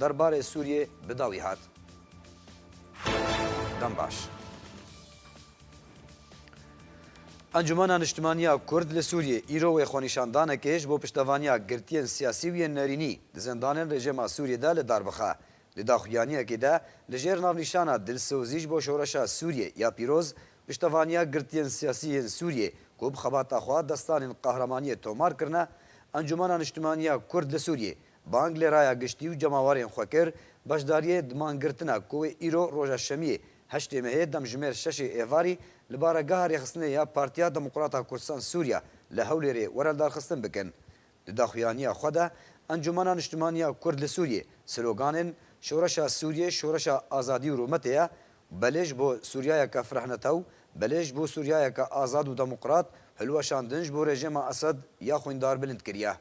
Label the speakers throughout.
Speaker 1: Derbarê Sûriyê bi dawî hat, Dembaş. Encûmena Niştimaniya Kurd li Sûriyê îro wê xwenîşandanekê ji bo piştevaniya girtiyên siyasî û yên nerînî di zindanên rejêma Sûriyê de li dar bixe. Di daxuyaniyekê de li jêr navnîşana Dilsozî ji bo Şoreşa Sûriyê ya Pîroz piştevaniya girtiyên siyasî yên Sûriyê ku bi xebata xwe destanên qehremaniyê tomar kirine, Encûmena Niştimaniya Kurd li Sûriyê Bang li Raya Giştî û cemawerên xwe kir, beşdariyê di mangirtina ku wê îro roja şemiyê heştê mehê demjimêr şeşê êvarî li baregeha rêxistinê ya Partiya Demokrata Kurdistan Sûriya li Hewlêrê were lidarxistin bikin. Di daxuyaniya xwe de Encûmena Niştimanî ya Kurd li Sûriyê siloganên Şoreşa Sûriyê Şoreşa Azadî û Rûmetê ye û Belê ji bo Sûriyayeke Firehnetew, Belê ji bo Sûriyayeke Azad û Demokrat hilweşandin ji bo rejêma Esed ya xwîndar bilind kiriye.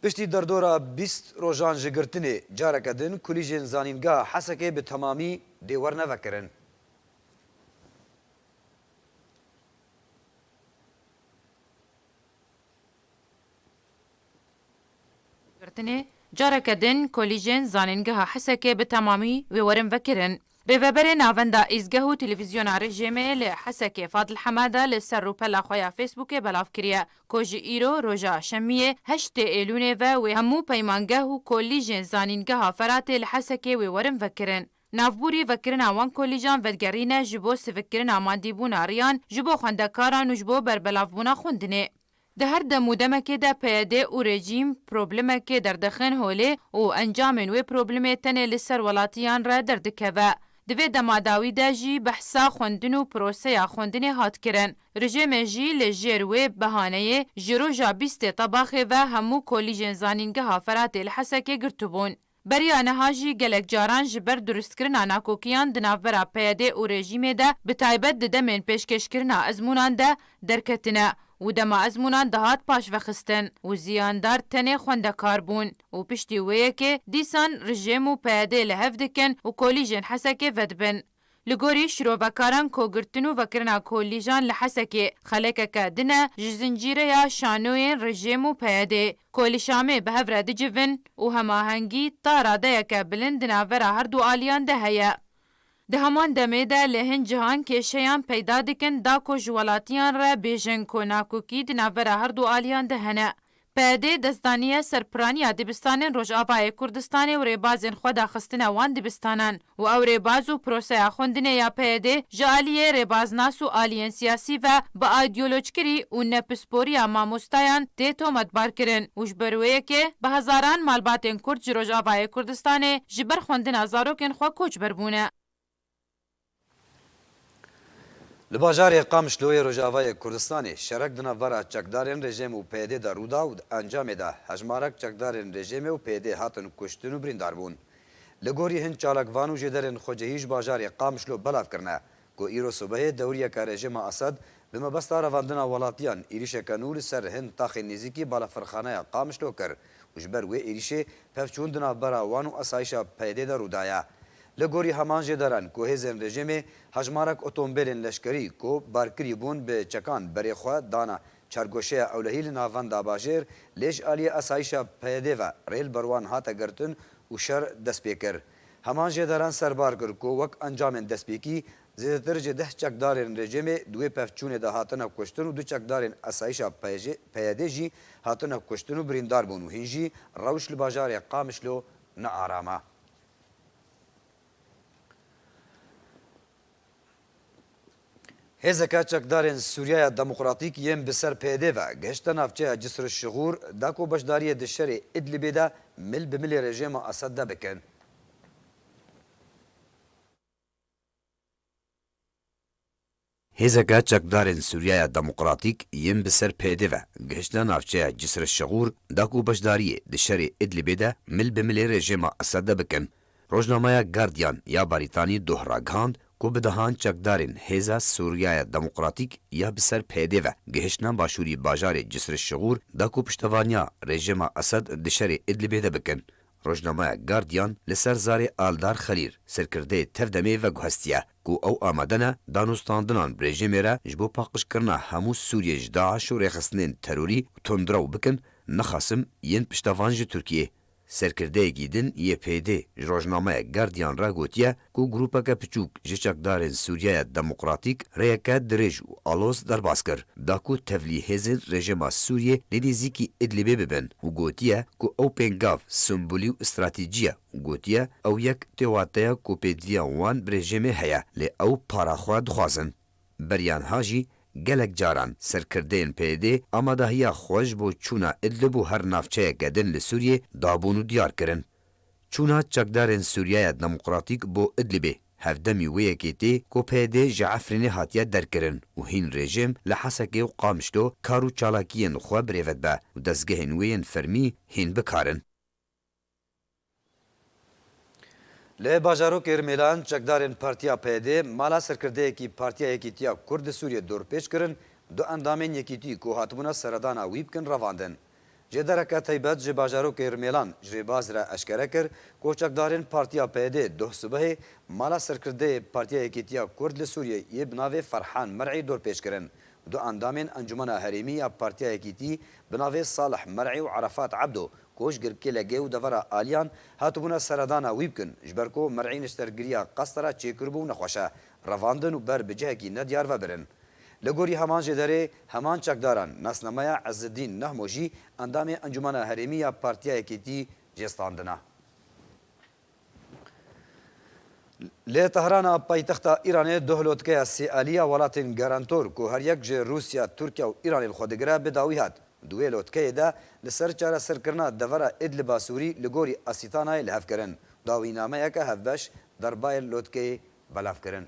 Speaker 1: Piştî derdora bîst rojan ji girtinê, careke din kulîjên Zanîngeha Hesekê bi temamî dê wernevekirin.
Speaker 2: Girtinê, careke din kulîjên Zanîngeha Hesekê bi temamî wê werin vekirin. Rêveberê Navenda Îzgeh û Televîzyona Rejîmê li Hesekê Fadil Hemeda li ser rûpela xwe ya Facebookê belav kiriye ku ji îro roja şemiyê heştê êlûnê ve wê hemû peymangeh û kolîjên Zanîngeha Feratê li Hesekê wê werin vekirin. Navbûrî vekirina wan kolîjan vedigerîne ji bo sivikkirina madîbûna riyan ji bo xwendekaran û ji bo berbelavbûna xwindinê. Di her dem û demekê de PYD û rejîm problemekê derdixin holê û encamên wê problemê tenê li ser welatiyan re derdikeve. Di vê dema dawî de jî behsa xwendin û proseya xwendinê hat kirin. Rejêmê jî li jêr wê behaneyê ji roja bîstê Tebaxê ve hemû kolîjên zanîngeha Feratê li Hesekê girtibûn. Beriya niha jî gelek caran ji ber durustkirina nakokiyan di navbera PYD û rejîmê de bi taybet di demên pêşkêşkirina ezmûnan de derketine û dema ezmûnan dihat paşvexistin û ziyandar tenê xwendekar bûn û piştî wê yekê dîsan rijêm û PYD li hev dikin û kolîjên Hesekê vedibin. Li gorî şirovekaran ku girtin û vekirina kolîjan li Hesekê xelekeke din e ji zincîreya şanoyên rejîm û PYDê ku li Şamê bi hev re dicivin û hemahengî ta radeyeke bilind di navbera her du aliyan de heye. Di heman demê de li hin cihan kêşeyan peyda dikin da ku ji welatiyan re bêjin ku nakokî di navbera her du aliyan de hene. PYD dest daniye ser piranî ya dibistanên Rojavayê Kurdistanê û rêbazên xwe daxistine wan dibistanan û ew rêbaz û proseya xwendinê ya PYDê ji aliyê rêbaznas û aliyên siyasî ve bi aîdiyolocikirî û ne pisporiya mamostayan tê tometbarkirin û ji ber wê yekê bi hezaran malbatên Kurd ji Rojavayê Kurdistanê ji ber xwendina zarokên xwe koçber bûne.
Speaker 1: Li bajarê Qamişloyê Rojavayê Kurdistanê şerek di navbera çekdarên rejîm û PYD'ê de rûda û di encamê de hejmarek çekdarên rejîmê û PYD'ê hatin kuştin û birîndar bûn. Li gorî hin çalakvan û jêderên xwecihî ji bajarê Qamişlo belav kirine ku îro sibehê dewriyeke rejîma Esed Bi mebesta revandina welatiyan êrîşeke nû li ser hin taxên nêzîkî balafirxaneya Qamişlo kir û ji ber wê êrîşê pevçûn di navbera wan û asayîşa PYD'ê de rûdaye. Li gorî heman jêdaran ku hêzên rejîmê hejmarek otomobilên leşkerî ku barkirî bûn bi çekan berê xwe dane çargoşeya Ewlehî li navenda bajêr lê ji aliyê asayîşa PYD'ê ve rê li ber wan hate girtin û şer dest pê kir. Heman jêdaran serbar kir ku wek encamên destpêkî Zêdetir ji deh çekdarên rejimê di wê pevçûnê de hatine kuştin û du çekdarên Esayîşa PYD jî hatine kuştin û birîndar bûn û hîn jî rewş li bajarê Qamişlo nearama. Hêzeke Çekdarên Sûriyaya Demokratîk yên bi ser PYD ve gihişte navçeya Cisr Şigur da ku beşdariyê di şerê Îdlibê de mil bi milê rejêma Esed de bikin. Hêzeke Çekdarên Sûriyaya Demokratîk yên bi ser PYD ve gihiştine navçeya Cisr-i Şigur da ku beşdariyê di şerê Idlibê de mil bi milê rejêma Esede bikin. Rojnameya Guardian ya Barîtanî doh ragihand ku bi dehan çekdarên Hêza Sûriyaya Demokratîk ya bi ser PYD ve gihiştine başûrî bajarê Cisr-i Şigur da ku piştevaniya rejêma Esed di şerê Idlibê de bikin. Rojnameya Guardian li ser zarê Aldar Xelîr, serkirdeyê tev demê veguhestiye ku ew amade ne danûstandinan bi rejîmê re ji bo paqijkirina hemû Sûriyê ji DAIŞ û rêxistinên terorî û tundrew bikin, nexasim yên piştevan ji Tirkiyê. Serkirdeyekî din yê PYD'ê ji rojnameya Guardian re gotiye, ku grûpeke piçûk ji çekdarên Sûriyeyê Demokratîk rêyeke dirêj û aloz derbas kir, da ku tevlî hêzên rejîma Sûriyê li nêzîkî Idlibê bibin û gotiye ku ew pêngav, sembolî û stratejî ye û gotiye ew yek tê wateya ku pêdiviya wan bi rejîmê heye lê ew para xwe dixwazin. Berianha jî gelek caran serkirdeyên PYD'ê amadahiya xwe ji bo çûna Idlib û her navçeyeke din li Sûriyê dabûn û diyar kirin. Çûna çekdarên Sûriyeya Demokratîk bo Idlibê hevdemî wê yekê tê ku PYD ji Efrînê hatiye derkirin û hîn rejîm li Hesekê û Qamişlo kar û çalakiyên xwe birêve dibe û dezgehên wê yên fermî hîn bikarin. Li bajarokê Rmêlan çekdarên Partiya PYD mala serkirdeyekî Partiya Yekîtiya Kurd li Sûriyê dorpêç kirin, du endamên Yekîtî ku hatibûna seredana wî bikin revandin. Ji dereke taybet ji bajarokê Rumêlan ji vê baz re eşkere kir ku çekdarên Partiya PYD'ê doh sibehê mala Serkirdeyê Partiya Yekîtiya Kurd li Sûriyê yê bi navê Ferhan Mer'î dorpêç kirin. Du endamên Encûmena Herêmî ya Partiya Yekîtî bi navê Salih Mer'î û Arafat Ebdo ku ji Girkêlegê û devera Aliyan hatibûne seredana wî bikin ji ber ku Mer'î neştergiriya qestera çêkiribû nexweşe revandin û ber bi cihekî nediyar vebirin. Li gorî heman jê derê, heman çekdaran nasnameya Ezzedîn Nahmo jî endamê Encûmena Herêmî ya Partiya Yekêtî jê standina. Li Tehrana paytexta Îranê duh lotkeya sê alî ya welatên garantor ku her yek ji Rûsya, Tirkiya û Îranê li xwe digire bi dawî hat. Di wê lotkeyê de li ser çareserkirina devera Îdliba Sûrî li gorî Asîtanayê li hev kirin dawînameyeke hevbeş derbayê lotkeyê belav kirin.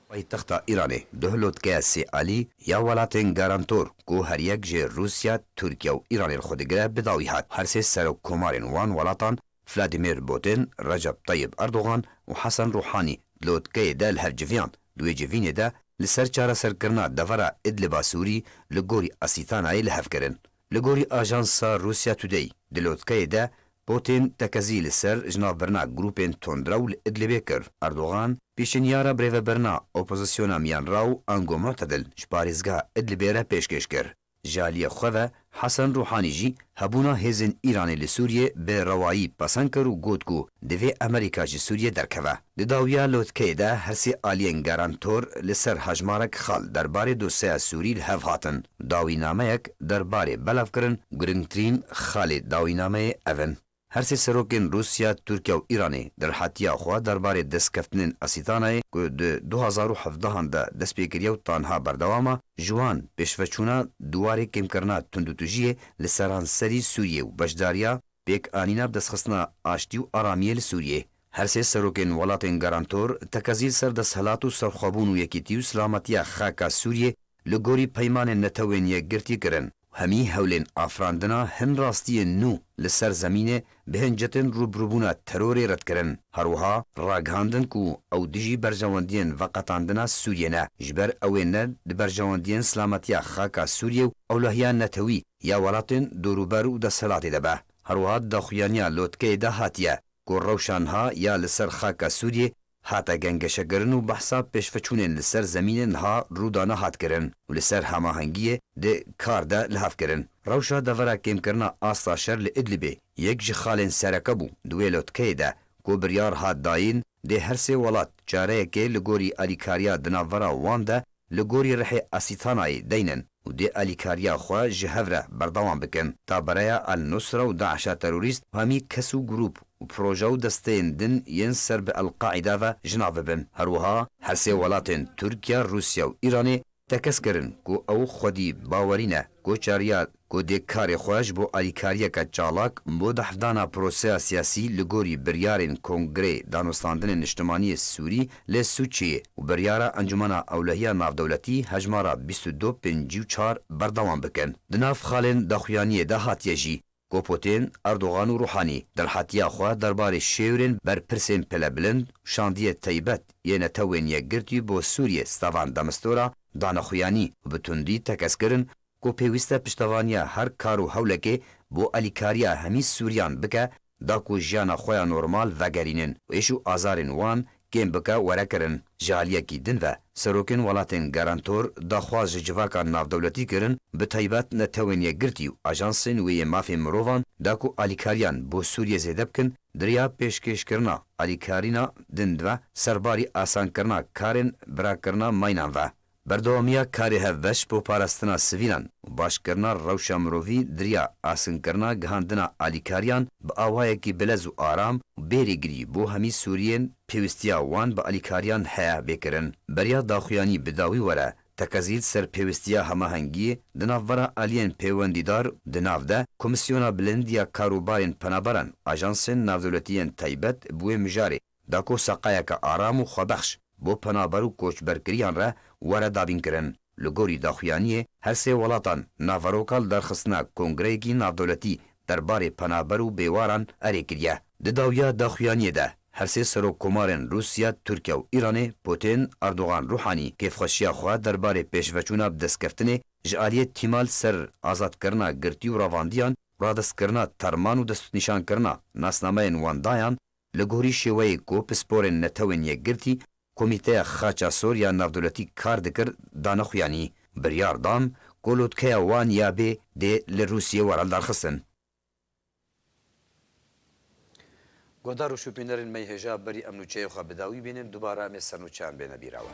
Speaker 1: Paytexta Îranê, Duhlotke Sêalî ya welatên garantor ku her yek ji Rûsya, Tirkiye û Îranê li xwe digire bi dawî hat. Her sê serokkomarên wan welatan Vladimir Putin, Recep Tayyip Erdogan û Hasan Rûhanî di lotkeyê de li hev civiyan. Di wê civînê de li ser çareserkirina devera Idliba Sûrî li gorî Asîtanayê li hev kirin. Li gorî ajansa Russia Today, di lotkeyê de Putin tekezî li ser ji nav birina grûpên tundrew li Idlibê kir. Erdogan, pêşeniyara birêvebirina opozisyona Miyanraw Ango Mu'tedil ji parêzgeha Idlibê re pêşkêş kir. Ji aliyê xwe ve Hasan Ruhani jî hebûna hêzên Îranê li Sûriyê bi rewayî pesend kir û got ku divê Amerîka ji Sûriyê derkeve. Di dawiya lotkeyê de her sê aliyên garantor li ser hejmarek xal derbarê dosyeya Sûrî li hev hatin. Dawînameyek derbarê belav kirin, girngtirîn xalê dawînameyê ev in. Her sê serokên Rûsya, Tirkiya û Îranê di rihatiya xwe derbarê destkeftinên Esîtanayê ku di du hezar û hevdeh an de dest pê kiriye û tanha berdewam e, ji wan pêşveçûna dwarê kêmkirina tundûtujiyê li seranserî Sûriyê û beşdariya pêkanîna bidestxistina aştî û aramiyê li Sûriyê Her sê serokên welatên garantor tekezî li ser desthilat û serxwebûn û yekîtî û silametiya xaka Sûriyê li gorî peymanên netewên yekgirtî kirin û hemî hewlên afirandina hin rastiyên nû li ser zemînê bi hincetên rûbirûbûna terorê red kirin. Her wiha ragihandin ku ew dijî berjewendiyên veqetandina Sûriyê ne, ji ber ew ê ne di berjewendiyên silametiya xaka Sûriyê û ewlehiya netewî ya welatên dorûber û desthilatê de be. Her wiha di daxuyaniya lotkeyê de hatiye, ku rewşa niha ya li ser xaka Sûriyê hate gengeşekirin û behsa pêşveçûnên li ser zemînê niha rûdana hat kirin û li ser hamahengiyê di kar de li hev kirin. Rewşa devera kêmkirina asta şer li Idlibê yek ji xalên sereke bû di wê lotkeyê de ku biryar hat dayîn dê her sê welat çareyekê li gorî alîkariya di navbera wan de Li gorî rihê Asîtanayê deynin û dê alîkariya xwe ji hev re berdewam bikin. Tabereya El-Nusra û DAIŞ'a terorîst hemî kes û grûp û proje û desteyên din yên ser bi El-Qaîda ve ji navê bin. Her wiha her sê welatên Tirkiye, Rûsya û Îranê tekez kirin ku ew xwedî bawerî ne ku çariya ku dê karê xwe ji bo alîkariyeke çalak bo dahvdana proseya siyasî li gorî biryarên Kongrê Danûstandinê Niştimaniyê Sûrî lê Sûçiyê û biryara Encûmena Ewlehiya Navdewletî hejmara bîst û du pêncî û çar berdewam bikin. Di nav xalên daxuyaniyê de hatiye jî ku Pûtîn, Erdogan û Rûhanî derhetiya xwe derbarê şêwirên berpirsên pilebilind û şandiyê teybet yê Netewên Yekgirtî bo Sûriyê Stavan de Mistura dane xuyanî û bi tundî tekez kirin ku pêwîste piştevaniya her kar û hewlekê bo alîkariya hemî Sûriyan bike da ku jiyana xwe ya normal vegerînin û êş û azarên wan kêm bike were kirin. Ji aliyekî din ve serokên welatên garantor daxwaz ji civaka navdewletî kirin bi taybet netewên yekgirtî û ajansên wê yê mafên mirovan da ku alîkariyan bo Sûriyê zêde bikin diriya pêşkêşkirina alîkarîna din ve serbarî asankirina karên birakirina maynan ve Berdewamiya karê hevbeş bo parastina sivîlan û başkirina rewşa mirovî diriya askinkirina gihandina alîkariyan bi awayekî bilez û aram û bê rêgirî bo hemî Sûriyên pêwîstiya wan bi alîkariyan heye bê kirin. Beriya daxuyanî bi dawî were tekezît ser pêwîstiya hemahengiyê di navbera aliyên pêwendîdar û di nav de Komîsyona Bilind ya Karûbarên Penaberan, ajansên navdewletî yên taybet bi wê mijarê, Dako seqayeke aram û xwebexş bo penaber û koçberkiriyan re were dabînkirin. Li gorî daxuyaniyê her sê welatan naveroka li derxistina kongreyekî navdewletî derbarê penaber û bêwaran erê kiriye. Di dawiya daxuyaniyê de her sê serokkomarên Rûsya, Tirkiye û Îranê Putin, Erdogan, Rûhanî kêfxweşiya xwe derbarê pêşveçûna bidestkeftinê ji aliyê tîma li ser azadkirina girtî û ravandiyan, radestkirina terman û destnîşankirina nasnameyên wan dayan Li gorî şêweyê ku pisporên Netewên Yekgirtî, Komîteya Xaça Sor ya Navdewletî kar dikir dane xuyanî, biryar dan ku lotkeya wan ya bê dê li Rûsiyê were lidarxistin. Guhdar û şûpînerên me yê hêja berî em nûçeyê xwe bi dawî bînin, dubare em ê sernûçeyan bêne bîra we.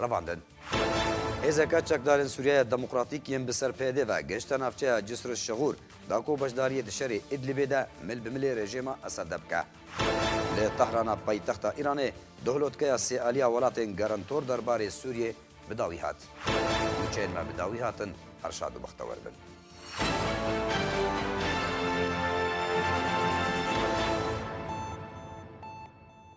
Speaker 1: revandin. Hêzeke Çekdarên Sûriyeya Demokratîk yên bi ser PYD ve gihişte navçeya Cisr-i Şegur da ku beşdariyê di şerê Îdlibê de mil bi milê rejêma Esede bike. Li Tehrana paytexta Îranê duhlotkeya sê aliya welatên Garantor der barê Sûriyê bi dawî hat. Nûçeyên me bi dawî hatin her şad û bextewer bin.